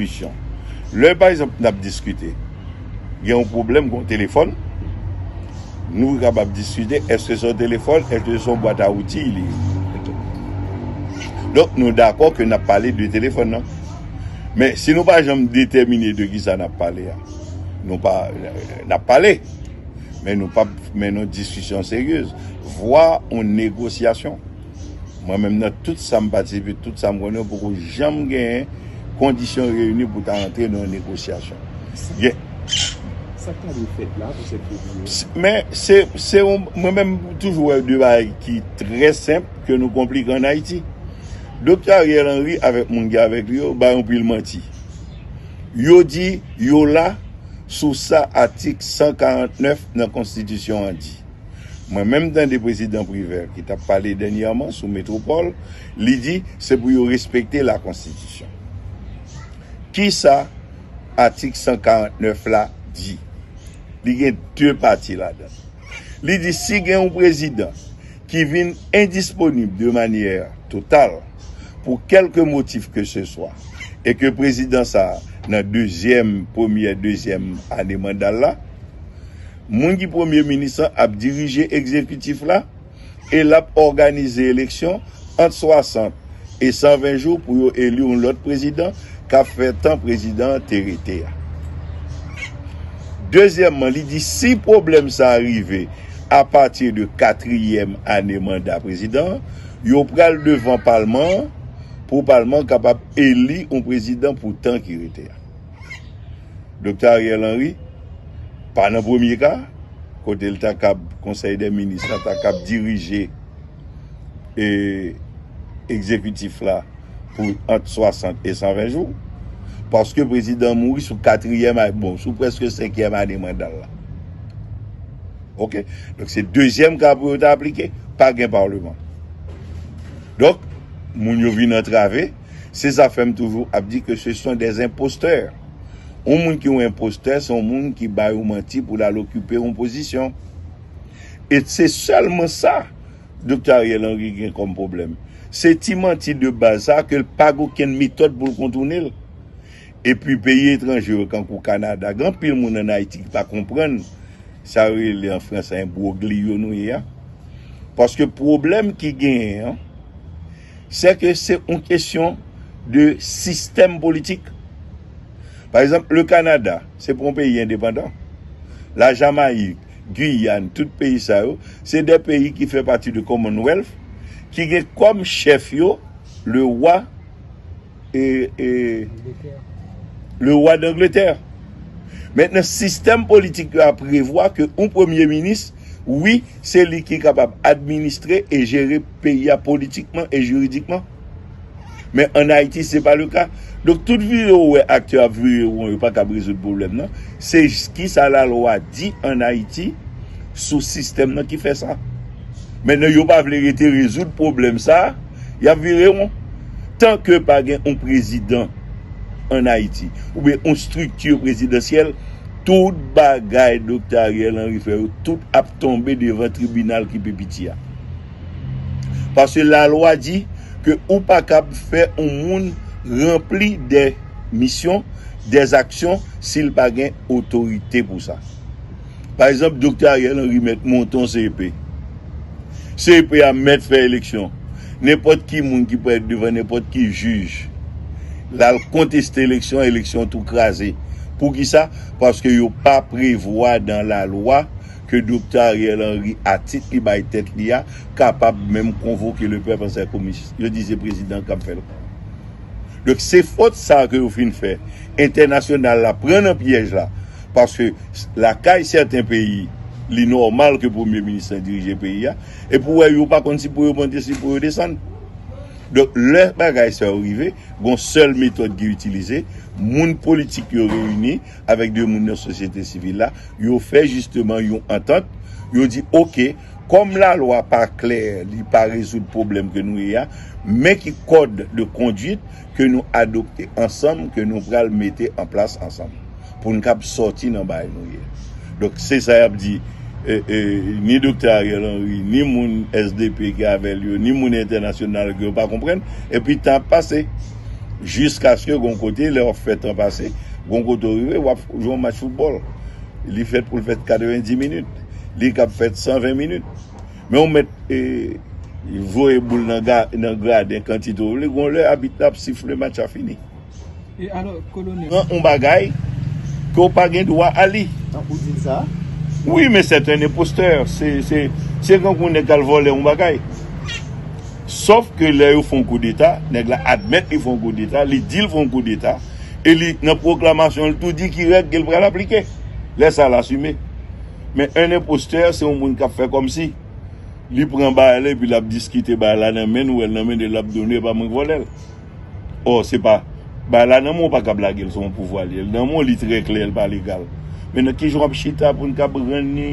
diskisyon. Lè pa egzanp nap diskite gen yon pwoblèm gon telefòn nou kapab diskite eske son telefòn eske son bwat a outiy li ye. Donk nou dakò ke nap pale de telefòn nan. Men si nou pa janm detèmine de kisa nap pale a nou pa nap pale men nou pap mennen yon diskisyon seryez vwa yon negosyasyon. Mwen menm nan tout sa m patisipe, tout sa m konnen, ou poko janm gen kondisyon reyini pou ta antre nan yon negosyasyon. Sa k ta dwe fèt la pou sèt fevriye a? Men, se, se yon, mwen menm m toujou wè de bagay ki trè senp ke nou konplike an Ayiti. Doktè Ariel Henry avèk moun ki avèk li yo bay anpil manti. Yo di yo la sou sa atik 149 nan konstitisyon an di. Mwen menm tande prezidan Privert ki tap pale dènyèman sou metropol, li di se pou yo respekte la konstitisyon. Kisa atik 149 la di? Li gen 2 pati ladan l. Li di si gen yon prezidan ki vin endisponib de manyè total pou kèlke motif ke se swa e ke prezidan sa nan dezyèm, premyè, dezyèm ane manda l la, Moun ki premye minis lan ap dirije egzekitif la e l ap òganize eleksyon ant 60 e 120 jou pou yo eli yon lòt prezidan k ap fè tan prezidan an te rete a. Dezyèmman, li di si pwoblèm sa a rive apati de katriyèm ane manda prezidan an, yo pral devan palman an pou palman an kapab eli yon prezidan pou tan ki rete a. Doktè Ariel Henry pa nan premye ka kote l ta kab konsèy dè minis la ta kab dirije e egzekitif la pou ant 60 e 120 jou paske prezidan mouri sou katriyèm ane bon sou prèske senkyèm ane manda l la ok donk se dezyèm ka pou yo ta aplike pa gen parleman donk moun yo vin antrave. Se zafè m toujou ap di ke se son des imposteurs. Yon moun ki yon impostè se yon moun ki bay yon manti pou l al okipe yon pozisyon. E se sèlman sa Doktè Ariel Henry gen kòm pwoblèm. Se ti manti de baz sa a ke l pa gen okenn metòd pou l kontounen l. E pi peyi etranje yo kankou Kanada gen anpil moun ann Ayiti ki pa konprann sa yo rele an franse enbwogliyo nou ye a. Paske pwoblèm ki genyen an sè ke se yon kesyon de sistèm politik. Pa egzanp, le Kanada, se pa yon peyi endepandan. La Jamayik, Guyane, tout peyi sa yo, se de peyi ki fè pati de Commonwealth, ki gen kòm chèf yo, le Wa. Le roi d'Angleterre. Mètnen sistèm politik yo a prevwa ke yon premye minis, wi, se li ki kapab administre e jere peyi a politikman e jiridikman. Men an Ayiti se pa le ka. Donk tout vire ou wè aktè yo ap vire won yo pa kab rezoud pwoblèm nan. Se ki sa la lwa di an Ayiti sou sistèm nan ki fè sa. Mètnen yo pa vle rete rezoud pwoblèm sa. Yap vire won. Tan ke pa gen yon prezidan an Ayiti, ou byen yon strikti prezidansyèl, tout bagay Doktè Ariel Henry fè yo, tout ap tonbe devan tribinal ki pi piti a. Paske la lwa di ke ou pa kab fè yon moun ranpli de misyon, de zaksyon, si l pa gen otorite pou sa. Pa egzanp Doktè Ariel Henry mèt monte yon CEP. CEP a mèt fè eleksyon. Nenpòt ki moun ki prèt devan nenpòt ki jij l al konteste eleksyon an, eleksyon an tou kraze. Poukisa? Paske yo pa prevwa dan lalwa ke Doktè Ariel Henry a tit li bay tèt li a kapab menm konvoke le pèp an sè komis. Yo di se prezidan k ap fè l. Donk se fot sa a ke yo fin fè. Entènasyonal la pran nan pyèj la. Paske lakay sèten peyi, li nòmal ke premye minis la dirije peyi a, epi ou wè yo pa konn si pou yo monte si pou yo desann. Donk lè bagay sa yo rive, gon sèl metòd ki itilize, moun politik yo reyini avèk de moun nan sosyete sivil la, yo fè jisteman yon antant, yo di ok, kòm lalwa pa klè, li pa rezoud pwoblèm ke nou ye a, men ki kòd de konduit, ke nou adopte ansanm, ke nou pral mete an plas ansanm, pou n kab sòti nan bay nou ye. Donk, se sa y ap di, ni Doktè Ariel Henry, ni moun sdp ki avè l yo, ni moun entènasyonal ke yo pa konprann, epi tan ap pase. Jiskaske gon kote, lè w ap fè tan pase, gon kote ou rive, w ap jwe yon match foutbòl. Li fèt pou l fèt 90 minit. Li kab fèt 120 minit. Men ou mèt voye boul nan graden kantite ou vle, gon lè abit la ap sifle match la fini. E alò kolonèl. Pran yon bagay ke w pa gen dwa a li. Tankou w di l sa. Wi men sèt en enpostè. Se kankou yon nèg k al vòlè yon bagay. Sòf ke lè yo fè yon koudeta, nèg la admèt li fè yon koudeta, li di l fè yon koudeta, e li nan pwoklamasyon l tou di ki règ ke l pral aplike. Lè sa l asime. Men un imposteur se yon moun kap fè komsi li pran bagay la epi lap diskite bagay la nan menn ou el nan menn e lap done epa mwen k volel or se pa bagay la nan menw ou pa kab lagel se yon pouvwa li el nan menw li trè klè el pa legal men nan kijan wap chita poun kab rann ni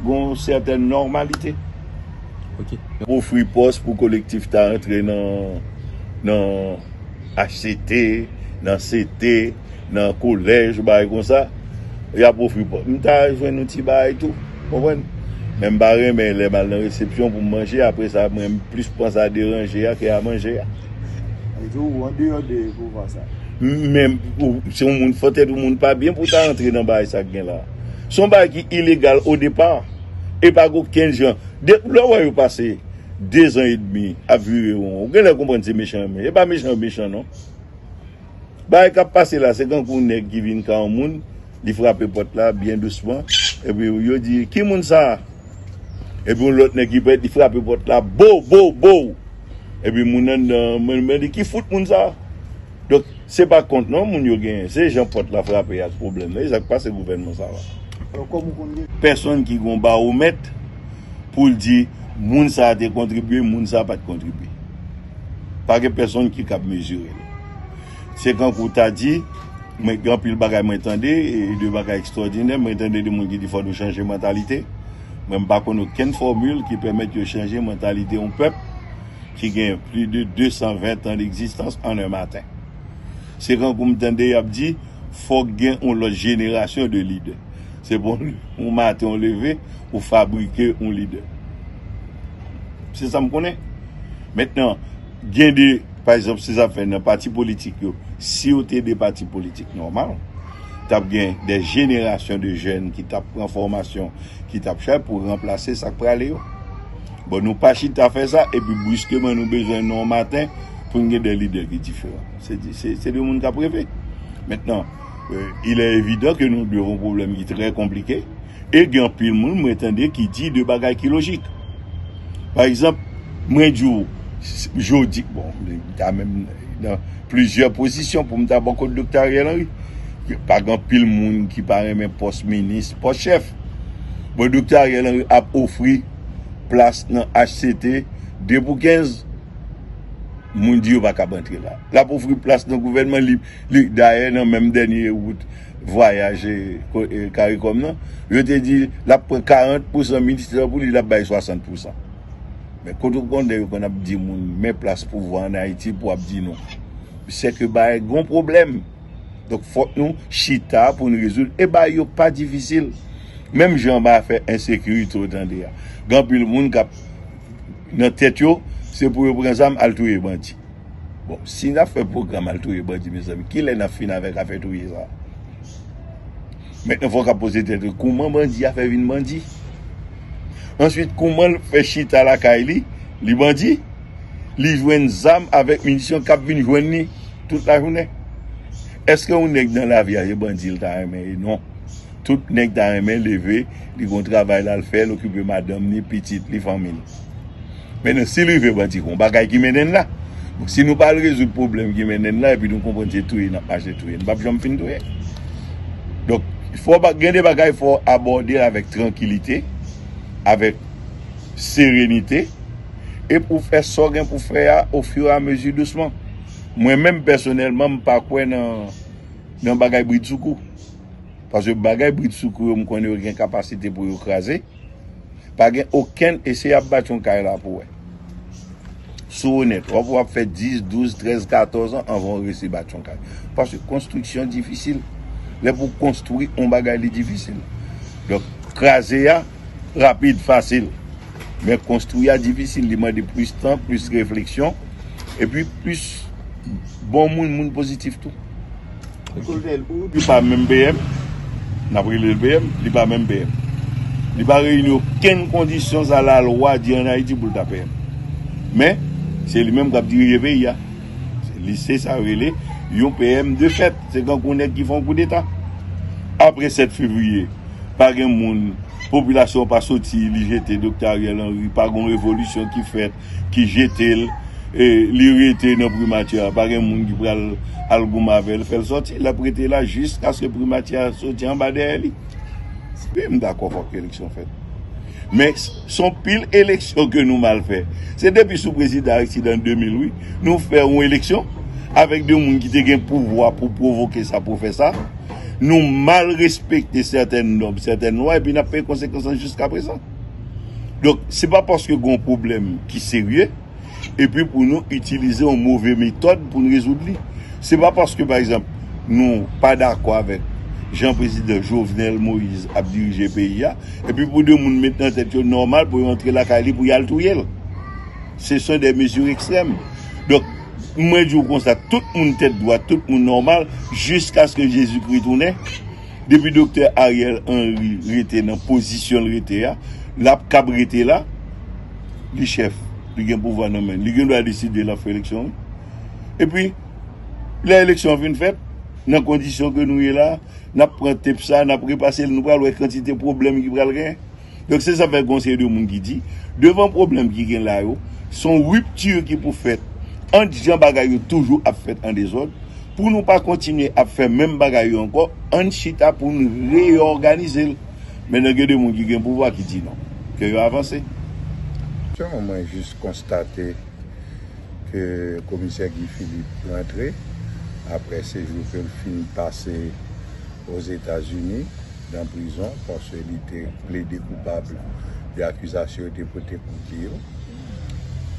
gon sètèn normalite ok. Ofri pòs pou kolektif ta antre nan nan. HCT, nan CT, nan kolèj, bagay konsa, y ap ofri pou. M ta jwenn yon ti bagay tou. Ou konprann? Men m pa renmen lè m al nan resepsyon pou m manje, apre sa mwen m plis panse a deranje a ke a manje a. Sa vle di ou andeyò de pouvwa sa a? Men, ou se yon moun fò tèt, yon moun pa byen pou w ta antre nan bagay sa k gen la a. Se yon bagay ki ilegal odepa. E pa gen okenn jan. Depi lè w wè yo pase. 2 zan e demi ap vire won ou genlè konprann se mechan men e pa mechan yo mechan non bagay kap pase la se kankou yon nèg ki vin ka yon moun li frape pòt la byen dousman epi yo di ki moun sa epi yon lòt nèg ki parèt li frape pòt la bow bow bow epi moun anndan an mande ki fout moun sa. Donk se pa kont non moun yo genyen, se jan pòt la frape ak pwoblèm nan, e sa k pase gouvènman sa la. Alò kòm ou konn gen. Pèsonn ki gen yon bawomèt pou l di moun sa a te kontribye, moun sa a pa t kontribye. Pa gen pèsonn ki kab mezire l. Se kankou w ta di, mwen gen anpil bagay mwen tande, e de bagay ekstwòdinè, mwen tande de moun ki di fò nou chanje mantalite, mwen m pa konn okenn fòmil ki pèmèt yo chanje mantalite yon pèp, ki gen pli de 220 tan d'ekzistans an 1 maten. Se kankou m tande y ap di fòk gen yon lòt jenerasyon de lidè. Se pa yon maten ou leve, ou fabrike yon lidè. Se sa m konnen. Mentnan, gen de, pa egzanp se sa k fè nan pati politik yo, si yo te de pati politik nòmal, t ap gen de jenerasyon de jèn ki t ap pran fòmasyon, ki t ap fè pou ranplase sa k prale yo. Bon nou pa chita fè sa epi briskeman nou bezwen nou an maten pou n gen de lide ki diferan. Se de moun k ap reve. Mentnan, il è evidan ke nou devan yon pwoblèm ki trè konplike e gen anpil moun mwen tande ki di de bagay ki lojik. Pa egzanp, mwen di w jodi, bon, mwen ta menm nan plizyè pozisyon pou m ta bò kot Doktè Ariel Henry. Pa gen anpil moun ki pa renmen pòs minis, pòs chèf. Bon, Doktè Ariel Henry ap ofri. plas nan HCT 2 pou 15, moun di yo pa kab antre la. L ap ofri plas nan gouvènman lib. Li dayè nan menm dènye wout vwayaj caricom nan, yo te di l ap pran 40 pousan ministè pou li, l ap bay 60 pousan. Men kote w konn lè yo konn ap di moun men plas pouvwa an Ayiti pou w ap di non. Sèke bagay gen yon pwoblèm. Donk fòk nou chita pou nou rezoud e bagay yo pa difisil. Menm jan anba afè ensekirite ou tande a. Gen anpil moun k ap nan tèt yo se pou yo pran zam al touye bandi. Bon si n ap fè pwogram al touye bandi mezanmi kilè n ap fin avèk afè touye sa a? Mètnan fòk ap poze tèt ou kouman bandi a fè vin bandi? Answit kouman l fè chita lakay li, li bandi? li jwenn zam avèk minisyon kap vin jwenn li tout lajounen. Eske yon nèg nan lavi a se bandi li ta renmen ye? Non. Tout nèg ta renmen leve, li gon travay l al fè, l okipe madanm li, pitit li, fanmi l. Mennen si l rive bandi gon bagay ki mennen l la. Bon si nou pa al rezoud pwoblèm ki mennen l la epi nou konprann se touye n ap mache touye, nou pap janm fin touye. Donk fò gen de bagay fò abòde l avèk trankilite, avèk serenite. e pou w fè sa w gen pou w fè a ofiramezi dousman. Mwen menm pèsonèlman m pa kwè nan bagay bridsoukou. Paske bagay bridsoukou yo m konnen yo gen kapasite pou yo kraze. Pa gen okenn, eseye ap bati yon kay la pou w wè. Si w onèt, w ap wè w ap fè 10, 12, 13, 14 an anvan w resi bati yon kay. Paske konstriksyon difisil. Lè pou w konstwi yon bagay li difisil. Donk kraze a rapid, fasil. Men konstwi a difisil, li mande plis tan, plis refleksyon, epi plis bon moun, moun pozitif tou. Kolonèl, ou di pa menm PM, n ap rele l PM, li pa menm PM. Li pa reyini okenn kondisyon sa lalwa di an Ayiti pou l ta PM. Men, se li menm k ap dirije peyi a. Li se sa yo rele yon PM de fèt. Se tankou nèg ki fè yon koudeta. Apre 7 fevriye, pa gen moun. Popilasyon pa soti li jete Doktè Ariel Henry, pa gon revolisyon ki fèt ki jete l, li rete nan primati a, pa gen moun ki pral al goumen avè l fè l sòti, l ap rete la jiskaske primati a soti anba dèyè li. Wi m dakò fòk eleksyon fèt. Men s on pil eleksyon ke nou mal fè. Se depi sou prezidan Aristide an 2000 wi, nou fè yon eleksyon avèk de moun ki te gen pouvwa pou pwovoke sa pou fè sa. Nou mal respekte sètèn nòm, sètèn lwa epi n ap peye konsekans lan jiskaprezan. Donk, se pa paske gen yon pwoblèm ki serye epi pou nou itilize yon move metòd pou n rezoud li. Se pa paske, pa egzanp, nou pa dakò avèk jan Prezidan Jovenel Moïse ap dirije peyi a epi pou de moun met nan tèt yo nòmal pou yo antre lakay li pou y al touye l. Se son de mezi ekstrèm. Donk. Mwen di w konsa, tout moun tèt dwat, tout moun nòmal, jiskaske Jezikri tounen, depi Doktè Ariel Henry rete nan pozisyon l rete a, l ap kab rete la, li chèf, li gen pouvwa nan men l, li gen dwa deside l ap fè eleksyon wi. Epi, lè eleksyon an fin fèt, nan kondisyon ke nou ye la, n ap pran tep sa, n ap repase l, nou pral wè kantite pwoblèm ki pral gen. Donk se sa k fè gen yon seri de moun ki di, devan pwoblèm ki gen la yo, se yon ripti ki pou fèt ant jan bagay yo toujou ap fèt an dezòd. Pou nou pa kontinye ap fè menm bagay yo ankò, ann chita pou n reyòganize l. Men nan gen de moun ki gen pouvwa ki di non. Ke yo avanse. Selman mwen jis konstate ke komisè Guy Philippe rantre apre sejou ke l fin pase Ozetazini. nan prizon paske li te plede koupab de akizasyon yo te pote kont li yo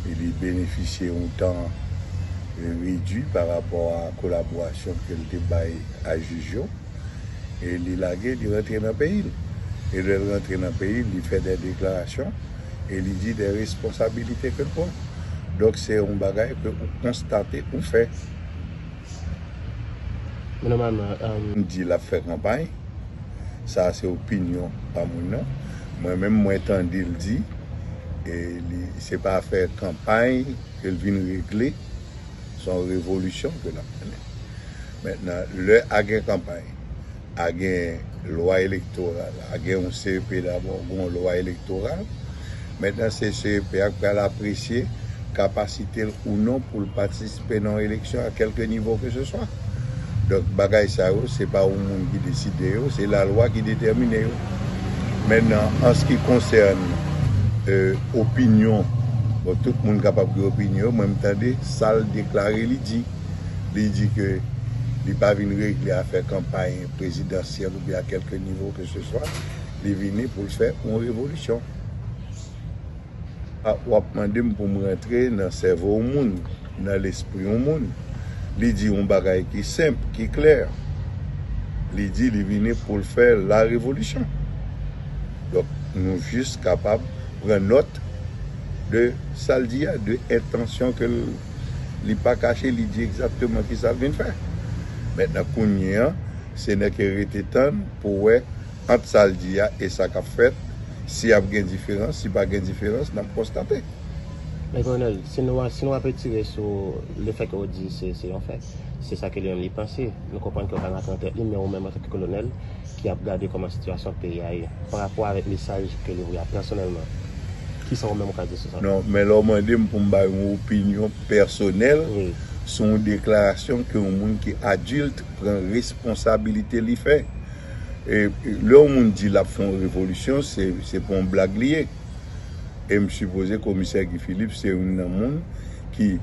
e li benefisye yon tan redwi pa rapò a kolaborasyon ke li te bay a jij yo e li lage li rantre nan peyi l e lè l rantre nan peyi l li fè de deklarasyon e li di de responsabilite ke l pran donk se yon bagay ke ou konstate ou fè. di lap fè kanpay, sa a se opinyon pa mwen nan, mwen menm mwen tande l di li se pa afè kanpay ke l vin regle, son revolisyon ke lap mennen, mentnan lè a gen kanpay. a gen lwa elektoral, a gen yon CEP dabò, gen yon lwa elektoral. Mentnan se CEP a k pral apresye kapasite l ou non pou l patisipe nan yon eleksyon a kèlke nivo ke se swa. Donk bagay sa yo se pa yon moun ki deside yo, se lalwa ki detèmine yo. Mentnan an s ki konsène opinyon, bon tout moun kapab gen opinyon, mwen m tande sa l deklare li di. li di ke li pa vin regle afè kanpay prezidansyèl oubyen a kèlke nivo ke se swa, li vini pou l fè yon revolisyon. A, w ap mande m pou m rantre nan sèvo yon moun, nan lespri yon moun, li di yon bagay ki senp, ki klè, li di li vini pou l fè la revolisyon. Donk, nou jis kapab pran nòt de sa l di a, de entansyon ke l. Li pa kache, li di egzakteman ki sa l vin fè. Mentnan kounye an, se nè ke rete tann pou wè ant sa l di a e sa k ap fèt, si ap gen diferans, si pa gen diferans, n ap konstate. Men Kolonèl, si nou a, si nou ap etire sou le fè ke ou di se, se yon fè, se sa ke li menm li panse, nou konprann ke ou pa rantre nan tèt li, men ou menm antanke Kolonèl, ki ap gade kòman sitiyasyon peyi a ye, pa rapò avèk mesaj ke li voye a pèsonèlman, ki sa ou menm ou ka di sou sa? Non, men lè ou mande m pou m bay yon opinyon pèsonèl sou yon deklarasyon ke yon moun ki adilt pran responsabilite li fè. Lè yon moun di l ap fè yon revolisyon, se pa yon blag li ye. E m sipoze komisè Guy Philippe se youn nan moun ki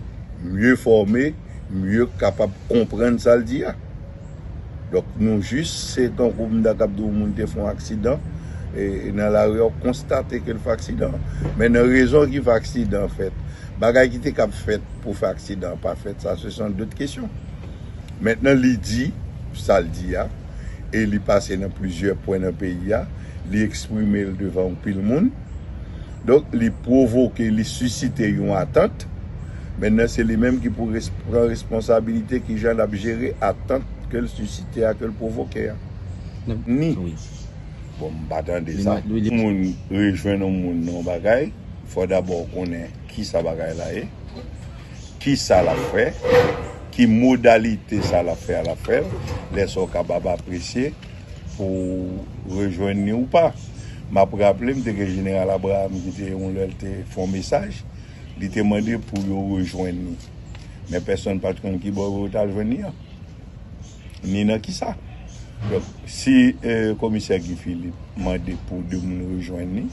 mye fòme, mye kapab konprann sa l di a. Donk nou jis se tankou mta kap di w moun te fè yon aksidan e nan lari a ou konstate ke l fè aksidan men nan rezon ki fè aksidan an fèt bagay ki te kab fèt pou fè aksidan an pa fèt sa se san dout kesyon mentnan li di sa l di a e li pase nan plizyè pwen nan peyi a li eksprime l devan anpil moun donk li pwovoke li sisite yon atant. Mennen se li menm ki pou pran responsabilite kijan lap jere atant kel sisite a kel pwovoke a. Ni. Bon m pa tande sa. Pou moun rejwenn yon moun nan yon bagay, fò dabò ou konnen kisa bagay la ye, kisa lap fè, ki modalite sa lap fè a lap fè l, lè sa ou kabab apresye pou ou rejwenn ni ou pa. Map raple m te gen Jeneral Abraham ki te yon lè l te fè yon mesaj Li te mande pou yo rejwenn li. Men pèsonn pa t konn ki bò yo t al jwenn li an, ni nan ki sa. Donk, si komisè Guy Philippe mande pou de moun rejwenn li,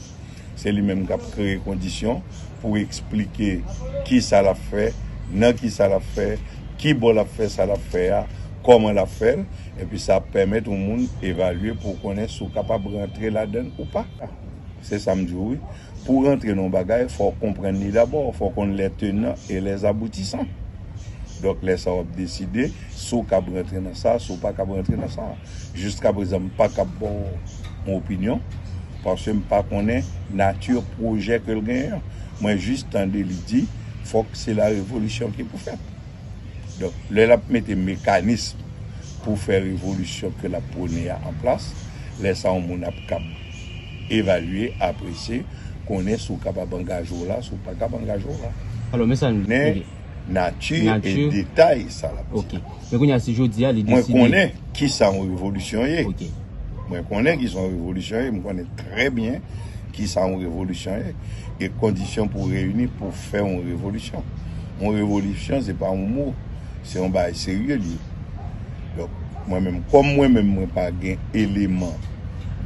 se li menm k ap kreye kondisyon pou eksplike ki sa l ap fè, nan ki sa l ap fè, ki bò l ap fè sa l ap fè a, kòman l ap fè l. Epi sa ap pèmèt yon moun evalye pou w konnen si w kapab rantre ladan l ou pa. Se sa m di w wi. Pou w rantre nan yon bagay, fò w konprann li dabò, fò w konn lè tenan e lè aboutisan. Donk lè sa w ap deside si w kab rantre nan sa, si w pa kab rantre nan sa. Jiskaprezan m pa kab ba w yon opinyon, paske m pa konnen nati pwojè ke l genyen an. Mwen jis tande li di fòk se la revolisyon ki pou fèt. Donk lè l ap mete mekanism pou fè revolisyon ke l ap pwone a an plas, lè sa yon moun ap kab. Evalye, aprese, konnen si w kapab angaje w la, si w pa kab angaje w la. Alò men sa n. Men nati e detay sa l ap di. Ok. Men kounye a si jodi a li deside. Mwen konnen ki sa yon revolisyon ye. Ok. Mwen konnen ki sa yon revolisyon ye. Mwen konnen trè byen ki sa yon revolisyon ye. E kondisyon pou reyini pou fè yon revolisyon. Yon revolisyon se pa yon mo. Se yon bagay serye li ye. Donk mwen menm kòm mwen menm mwen pa gen eleman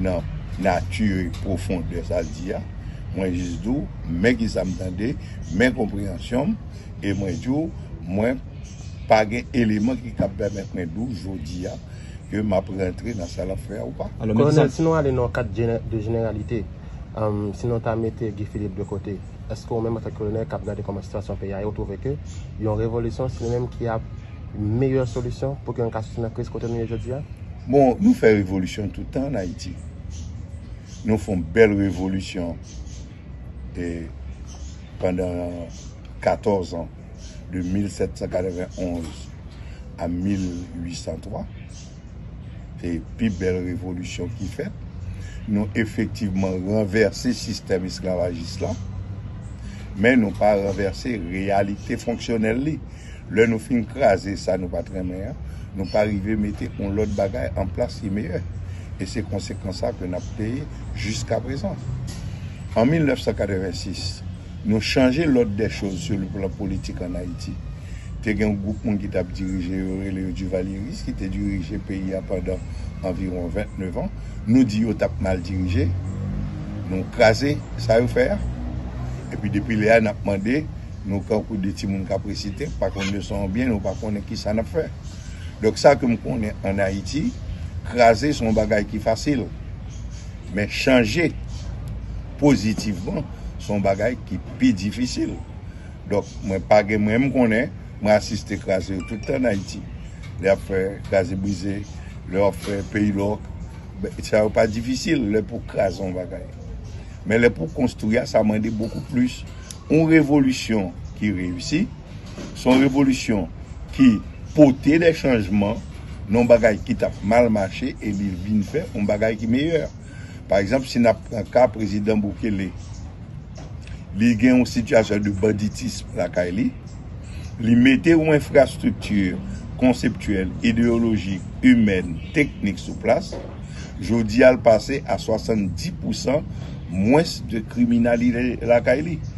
nan nature profondeur sal di a mwen jis di w men kisa m tande men konpreyansyon m e mwen di w mwen pa gen eleman ki kab pèmèt mwen di w jodi a ke m ap rantre nan sa l ap fè a ou pa. Kolonèl si nou ale nan kad de jeneralite si nou ta mete Guy Philippe de kote eske ou menm antanke kolonèl k ap gade kòman sitiyasyon peyi a ye ou twouve ke yon revolisyon se li menm ki ap meyè solisyon pou ke nou ka soti nan kriz kote nou ye jodi a? Bon, nou fè revolisyon tout tan an Ayiti. Nou fon bèl revolisyon e pandan 14 an, de 1791 a 1803. Se pi bèl revolisyon ki fèt. Nou efektivman ranvèse sistèm esklavajis la, men nou pa ranvèse reyalite fonksyonèl li. Lè nou fin kraze sa nou pa t renmen an, nou pa rive mete yon lòt bagay an plas ki meyè. E se konsekans sa ke n ap peye jiskaprezan. An 1986. Nou chanje lòd dè choz sou le plan politik an Ayiti. Te gen yon gwoup moun ki t ap dirije yo, rele yo Divalyeris, ki te dirije peyi a pandan anviwon 29 an. Nou di yo t ap mal dirije, nou kraze sa yo fè a. Epi depi lè a n ap mande, nou kankou de ti moun k ap resite, k pa konn leson an byen, nou pa konnen ki sa n ap fè. Donk sa ke m konnen an Ayiti, kraze se yon bagay ki fasil. Men chanje. pozitivman se yon bagay ki pi difisil donk mwen pa gen mwen m konnen mwen asiste kraze yo tout tan an Ayiti lè y ap fè kraze brize lè yo ap fè peyi lòk sa yo pa difisil lè pou kraze yon bagay men lè pou konstwi a sa mande bokou plis yon revolisyon ki reyisi se yon revolisyon ki pote de chanjman nan yon bagay ki t ap mal mache e li vin fè yon bagay ki meyè. Pa egzanp, si n ap pran ka prezidan Bukele, li gen yon sitiyasyon de banditism lakay li, li mete yon enfrastrikti konseptyèl, ideyolojik, imèn, teknik sou plas, jodi a l pase a 70 pousan mwens de kriminalite lakay li.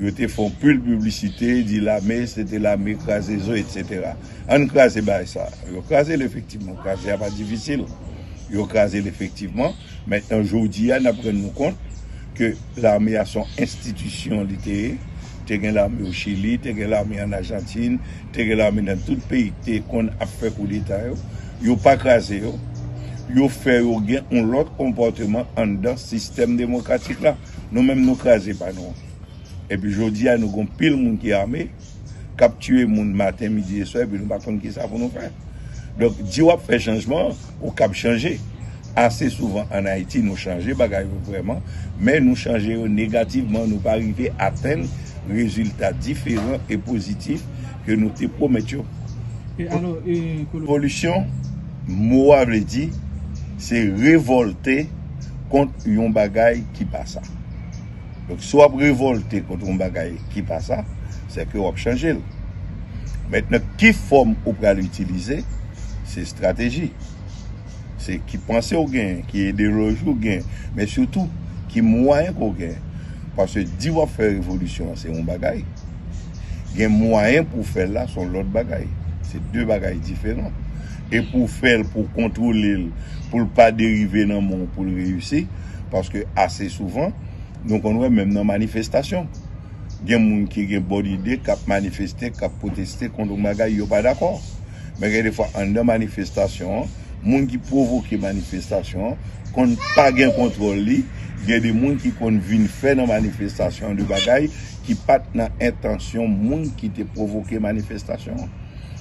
Yo te fon pil piblisite di lame se te lame kraze zo etc. Ann kraze bagay sa. Yo kraze l efektivman. Kraze a pa difisil. Yo kraze l efektivman. Mentnan jodi a nap rann nou kont ke lame a son enstitisyon li te ye. Te gen lame o Chili, te gen lame an Ajantin, te gen lame nan tout peyi ki te konn ap fè koudeta yo. Yo pa kraze yo. Yo fè yo gen yon lòt konpòteman anndan sistèm demokratik la. Nou menm nou kraze pa nou an. Epi jodi a nou gon pil moun ki ame, kap tiye moun maten, midi e swa epi nou pa konn kisa pou nou fè. Donk di wap fè chanjman, ou kab chanje. Ase souvan an Ayiti nou chanje bagay yo vrèman, men nou chanje yo negativman, nou pa rive atenn rezilta diferan e pozitif ke nou te pwomèt yo. Revolisyon, mo a vle di, se revolte. kont yon bagay ki pa sa. Donk si w ap revòlte kont yon bagay ki pa sa, se ke w ap chanje l. Mentnan ki fòm ou pral itilize, se estrateji. Se ki panse ou genyen, ki ideyoloji ou genyen, men sitou ki mwayen ke w genyen. Paske di w ap fè revolisyon an se yon bagay, gen mwayen pou w fè l la se yon lòt bagay. Se de bagay diferan. e pou w fè l pou w kontwole l pou l pa derive nan men w pou l reyisi paske ase souvan nou konn wè menm nan manifestasyon gen moun ki gen bon ide k ap manifeste k ap pwoteste kont yon bagay yo pa dakò men gen defwa anndan manifestasyon an moun ki pwovoke manifestasyon an konn pa gen kontwòl li gen de moun ki konn vin fè nan manifestasyon an de bagay ki pa t nan entansyon moun ki te pwovoke manifestasyon an.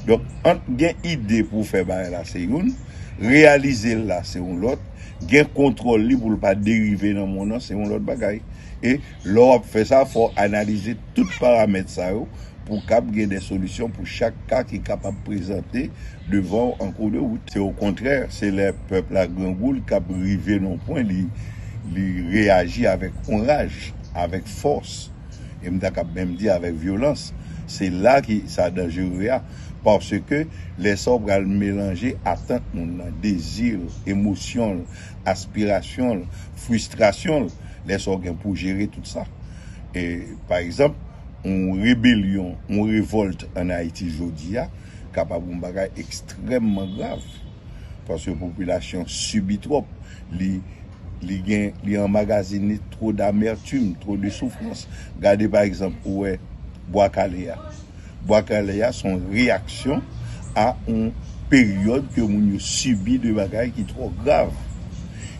Donk ant gen ide pou fè bagay la se youn, reyalize l la se yon lòt, gen kontwòl li pou l pa derive nan monn nan se yon lòt bagay. E lè w ap fè sa fò w analize tout paramèt sa yo pou w kab gen de solisyon pou chak ka ki kapab prezante devan w an kou de wout. Se okontrè, se lè pèp la grangou l kab rive nan yon pwen li reyaji avèk yon raj, avèk fòs. e m ta kab menm di avèk vyolans, se la ki sa danjere a, paske lè sa w pral melanje atant moun nan, dezi l, emosyon l, aspirasyon l, fristrasyon l, lè sa w gen pou w jere tout sa. E pa egzanp, yon rebelyon, yon revòlt an Ayiti jodi a kapab yon bagay ekstrèmman grav, paske popilasyon sibi twòp, li. Li gen, li anmagazine twò damertume, twò de soufrans. Gade pa egzanp ou wè Bwa Kale a. Bwa Kale a son reyaksyon a on peryòd ke moun yo sibi de bagay ki twò grav.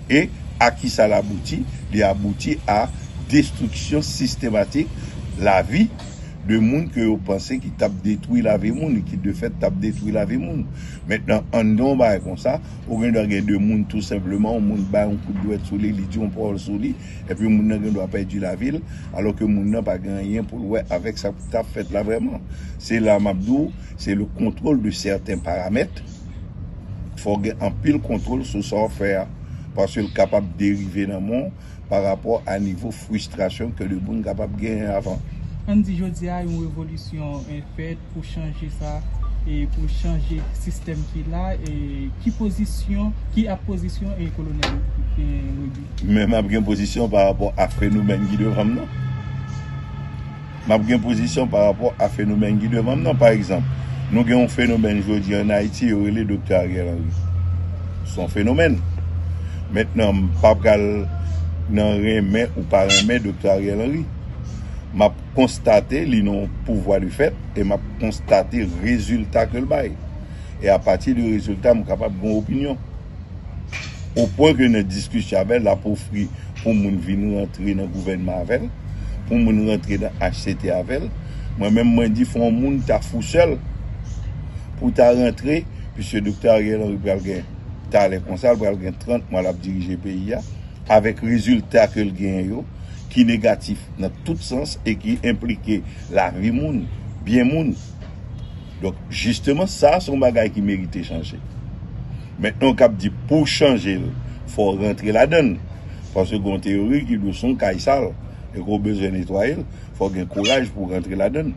E a ki sa l abouti? Li abouti a destriksyon sistematik lavi de moun ke yo panse ki t ap detwi lavi moun e ki de fèt t ap detwi lavi moun. Mentnan, an n gen on bagay konsa. Ou gen dwa gen de moun tou senpleman, yon moun bay yon kout dwèt sou li, li di yon pawòl sou li, epi moun nan gen dwa pèdi lavi l, alò ke moun nan pa gen anyen pou l wè avèk sa k t ap fèt la vrèman. Se la m ap di w, se le contrôle de certains paramètres, fò w gen anpil kontwòl sou sa w fè a, paske l kapab derive nan mò w. pa rapò a nivo fristrasyon ke de moun kapab genyen avan. Ann di jodi a yon revolisyon fèt pou chanje sa, pou chanje sistèm ki la, ki pozisyon, ki ap pozisyon Kolonèl Roody? Men m ap gen pozisyon pa rapò a fenomèn ki devan m nan. M ap gen pozisyon pa rapò a fenomèn ki devan m nan. Pa egzanp, nou gen yon fenomèn jodi an Ayiti yo rele Doktè Ariel Henry. Se yon fenomèn. Mentnan m pa pral nan renmen ou pa renmen Doktè Ariel Henry. M ap konstate li nan yon pouvwa de fèt e m ap konstate rezilta ke l bay. E apati de rezilta m kapab gen yon opinyon. O pwen ke nan diskisyon avè l, l ap ofri pou moun vin rantre nan gouvènman avè l, pou moun rantre nan HCT avè l. Mwen menm mwen di fò w moun ta fou sè l pou w ta rantre, piske Doktè Ariel Henry pral gen talè konsa, l pral gen 30 mwa l ap dirije peyi a, avèk rezilta ke l genyen yo, ki negatif nan tout sans e ki enplike lavi moun, byen moun. Donk jisteman sa son bagay ki merite chanje. Mentnan kap di pouw chanjel fòw rantre ladann paske gon teyori ki diw son kay sal e ke w bezwen netwayel fòw gen kouraj pouw rantre ladann.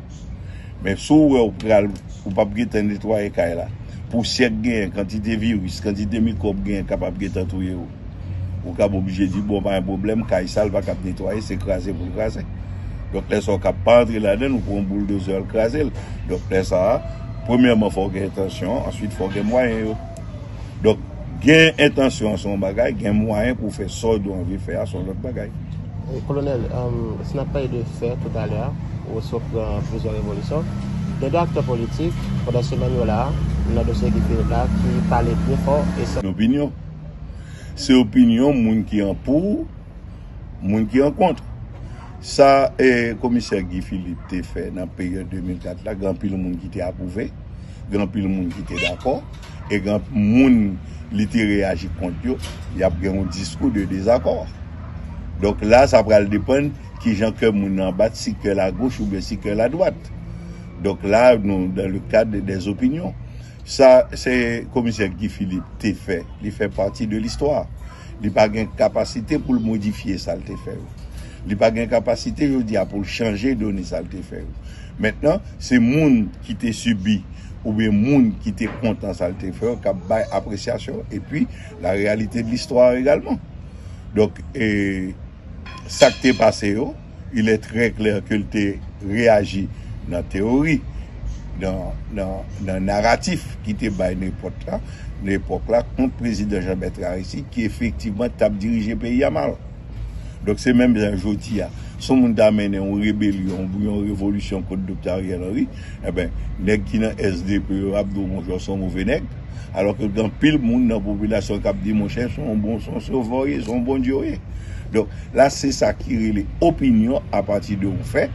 Men si w wè w pral ou pap gentan netwaye kay la, pousyè k genyen, kantite viris, kantite mikwòb k genyen kapab gentan touye w. Ou kab oblije di bon pa gen pwoblèm kay sal pa kab netwaye se kraze pou l kraze. Donk lè sa ou kab pa antre ladan l ou pran yon bouldozè al kraze l. Donk lè sa a premyèman fò w gen entansyon answit fò w gen mwayen yo. Donk gen entansyon an se yon bagay gen mwayen pou w fè sa w do anvi fè a se yon lòt bagay. Kolonèl, si n ap pale de fè toutalè a ou sot pran plizyè revolisyon, gen de aktè politik pandan semèn yo la a nan dosye Guy Philippe la ki pale byen fò e san. Lopinyon. Se opinyon moun ki an pou, moun ki an kont. Sa komisè Guy Philippe te fè nan peryòd 2004 la, gen anpil moun ki te apwouve, gen anpil moun ki te dakò, e gen moun li te reyaji kont yo, y ap gen yon diskou de dezakò. Donk la, sa pral depann ki jan kè moun nan bat, si kè l agoch oubyen si kè l adwat. Donk la, nou dan le kad dèzopinyon. Sa se komisè Guy Philippe te fè, li fè pati de listwa. Li pa gen kapasite pou l modifye sa l te fè yo. Li pa gen kapasite jodi a pou l chanje done sa l te fè yo. Mentnan, se moun ki te sibi oubyen moun ki te kontan sa l te fè yo k ap bay apresyasyon epi la reyalite de listwa egalman. Donk, sa k te pase yo. il est très clair ke l te reyaji nan teyori, nan naratif ki te bay nan epòt la, nan epòk la kont prezidan Jean Bertrand Aristide ki efektivman t ap dirije peyi a mal. Donk se menm jan jodi a, si yon moun ta mennen yon rebelyon oubyen yon revolisyon kont Doktè Ariel Henry, enben nèg ki nan SDP yo ap di w bonjò, s on move nèg. Alò ke gen anpil moun nan popilasyon kap di monchè son yon bon son sovè w ye, son yon Bondye w ye. Donk la se sa ki rele opinyon apati de yon fè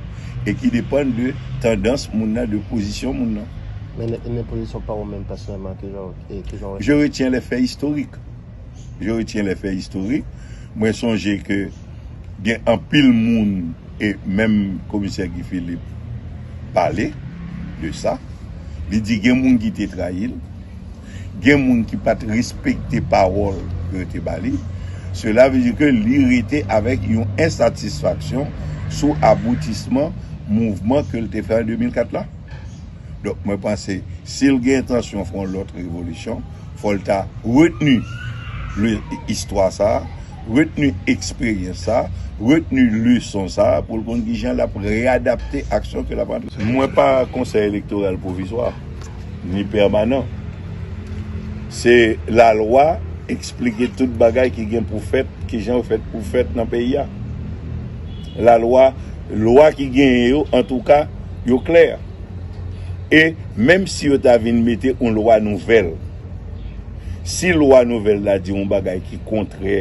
e ki depann de tandans moun nan, de pozisyon moun nan. Men nan pozisyon pa ou menm pèsonèlman kijan ou, kijan ou wè sa? Je retiens les faits historiques. je retiens les faits historiques, mwen sonje ke gen anpil moun e menm komisè Guy Philippe pale de sa, li di gen moun ki te trayi l, gen moun ki pa t respekte pawòl ke yo te ba li, sela vle di ke li rete avèk yon ensatisfaksyon sou aboutisman mouvman ke l te fè an 2004 la. Donk mwen panse si l gen entansyon fè yon lòt revolisyon, fò l ta retni le istwa sa a, retni eksperyans sa a, retni leson sa a pou l konn ki jan l ap reyadapte aksyon ke l ap antre. Mwen pa konsèy elektoral pwovizwa, ni pèmanan. Se lalwa eksplike tout bagay ki gen pou fèt, ki jan yo fèt pou fèt nan peyi a. Lalwa, lwa ki genyen yo, antouka, yo klè. E menm si yo ta vin mete yon lwa nouvèl, si lwa nouvèl la di yon bagay ki kontrè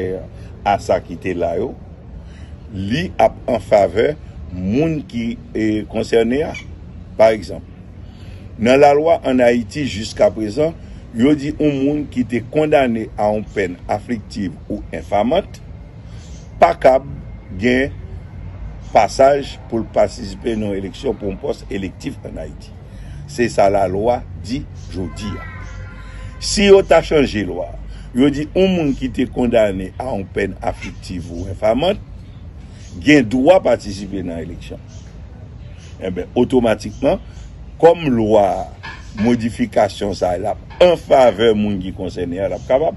a sa ki te la yo, li ap an favè moun ki konsène a. Pa egzanp, nan lalwa ann Ayiti jiskaprezan, yo di yon moun ki te kondane a yon pèn afliktiv ou enfamant, pa kab gen pasaj pou l patisipe nan yon eleksyon pou yon pòs elektif an Ayiti. Se sa lalwa di jodi a. Si yo ta chanje lwa a, yo di yon moun ki te kondane a yon pèn afliktiv ou enfamant gen dwa patisipe nan eleksyon. Enben, otomatikman, kòm lwa a, modifikasyon sa a, l ap an favè moun ki konsène a, l ap kapab.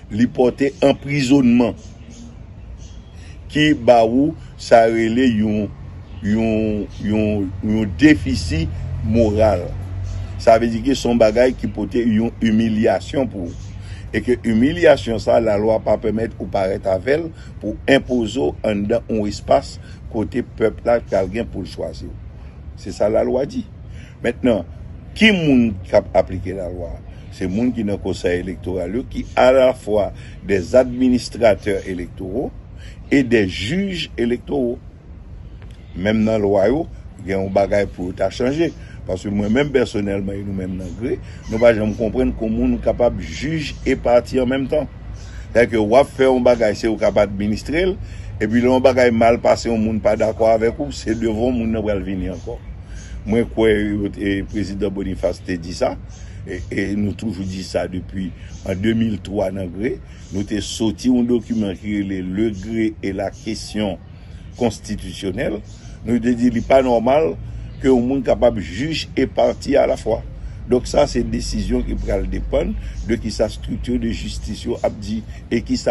Li pòte anprizonman ki ba ou sa rele yon yon yon yon defisi moral. Sa vle di ke son bagay ki pote yon imilyasyon pou ou. E ke imilyasyon sa la lwa pa pèmèt ou parèt avèl pou enpoze w anndan yon espas kote pèp la pral gen pou l chwazi w. Se sa la lwa di. Mentnan, ki moun kap aplike la lwa? Se moun ki nan Kosèy Elektoral yo ki alafwa dè administratè elektoro e dè jij elektoro. Menm nan lwa yo, gen yon bagay pou yo ta chanje. Paske mwen menm pèsonèlman e nou menm nan gre, nou pa janm konprann kou moun kapab jij e pati an menm tan. Sètadi ke w ap fè yon bagay, se ou k ap administre l, epi lè yon bagay mal pase yon moun pa dakò avèk ou, se devan w moun nan pral vini ankò. Mwen kwè yo te, Prezidan Boniface te di sa. E nou toujou di sa depi an 2003 nan gre, nou te soti yon dokiman ki rele Le gre et la question constitutionnelle, nou te di li pa nòmal ke yon moun kapab jij e pati a la fwa. Donk sa se desizyon ki pral depann de kisa structure de justice yo ap di e kisa.